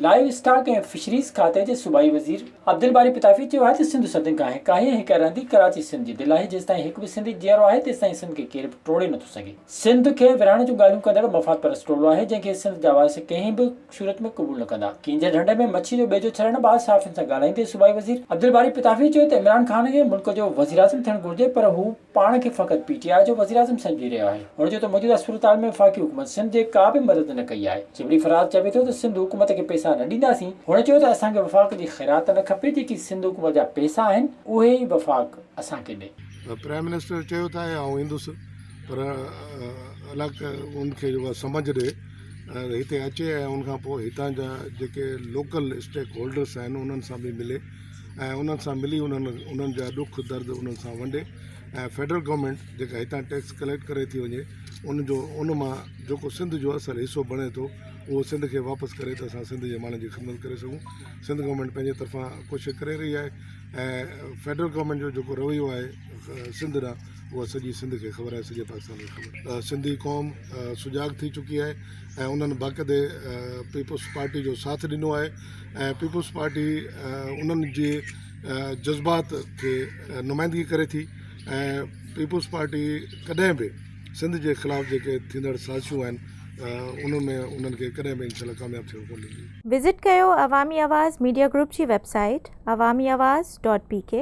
Live stock ۽ fisheries کاتي جي صوبائي وزير عبدالباري پتافي چيو آهي ته سنڌ صدين کان هڪ آهي ۽ هڪ رهندي، ڪراچي سنڌ جي دل آهي، جيستائين هڪ به سنڌي جيئرو آهي تيستائين سنڌ کي ڪير به ٽوڙي نٿو سگهي، سنڌ کي ورهائڻ جون ڳالهيون ڪندڙ مفاد پرست ٽولو آهي جنهن کي سنڌ جا وارث ڪنهن به صورت ۾ قبول نه ڪندا، ڪينجهر ڍنڍ ۾ مڇي جو ٻيجو ڇڏڻ بعد صحافين سان ڳالهائيندي صوبائي وزير عبدالباري پتافي چيو ته عمران خان کي ملڪ جو وزيراعظم ٿيڻ گهرجي پر هو. پاڻ کي فقط پي ٽي آء جو وزيراعظم سمجهي رهيو آهي، هن چيو ته موجوده صورتحال ۾ وفاقي حڪومت سنڌ جي ڪا به مدد نه ڪئي آهي، جبري فراز چوي ٿو ته سنڌ حڪومت کي پئسا نه ڏينداسين، هن چيو ته اسان کي وفاق جي خيرات نه کپي، جيڪي سنڌ حڪومت جا پئسا آهن اهي ئي وفاق اسان کي ڏي. پرائم منسٽر چيو ته آء آئون ايندس پر الڪ ان کي جيڪو آهي سمجهه ڏي ۽ هتي اچي ۽ ان کان پوء هتان جا جيڪي لوڪل اسٽيڪ هولڊرس آهن انهن سان به ملي. ۽ انهن سان ملي انهن انهن جا ڏک درد انهن سان ونڊي ۽ فيڊرل گورنمينٽ جيڪا هتان ٽيڪس ڪليڪٽ ڪري ٿي وڃي ان جو ان مان جيڪو سنڌ جو اصل حصو بڻي ٿو اهو سنڌ کي واپس ڪري ته اسان سنڌ جي ماڻهن جي خدمت ڪري سگهون سنڌ گورنمينٽ پنهنجي طرفان ڪوشش ڪري رهي آهي ۽ فيڊرل گورنمينٽ جو جيڪو رويو آهي سنڌ ڏانهن اهو سڄي سنڌ کي خبر آهي سڄي پاڪستان کي خبر آهي سنڌي قوم سجاڳ ٿي چڪي آهي ۽ انهن باقاعدي پيپلز پارٽي جو ساٿ ڏنو آهي ۽ پيپلز پارٽي انهن جي جذبات کي نمائندگي ڪري ٿي ۽ پيپلز پارٽي ڪڏهن به سنڌ جي خلاف جيڪي ٿيندڙ سازشون آهن ان ۾ انهن کي ڪڏهن به انشاء الله ڪامياب ٿيڻ ڪونه ڏيندي. وزٽ ڪيو عوامي آواز ميڊيا گروپ جي website Awami Awaz dot P ڪي.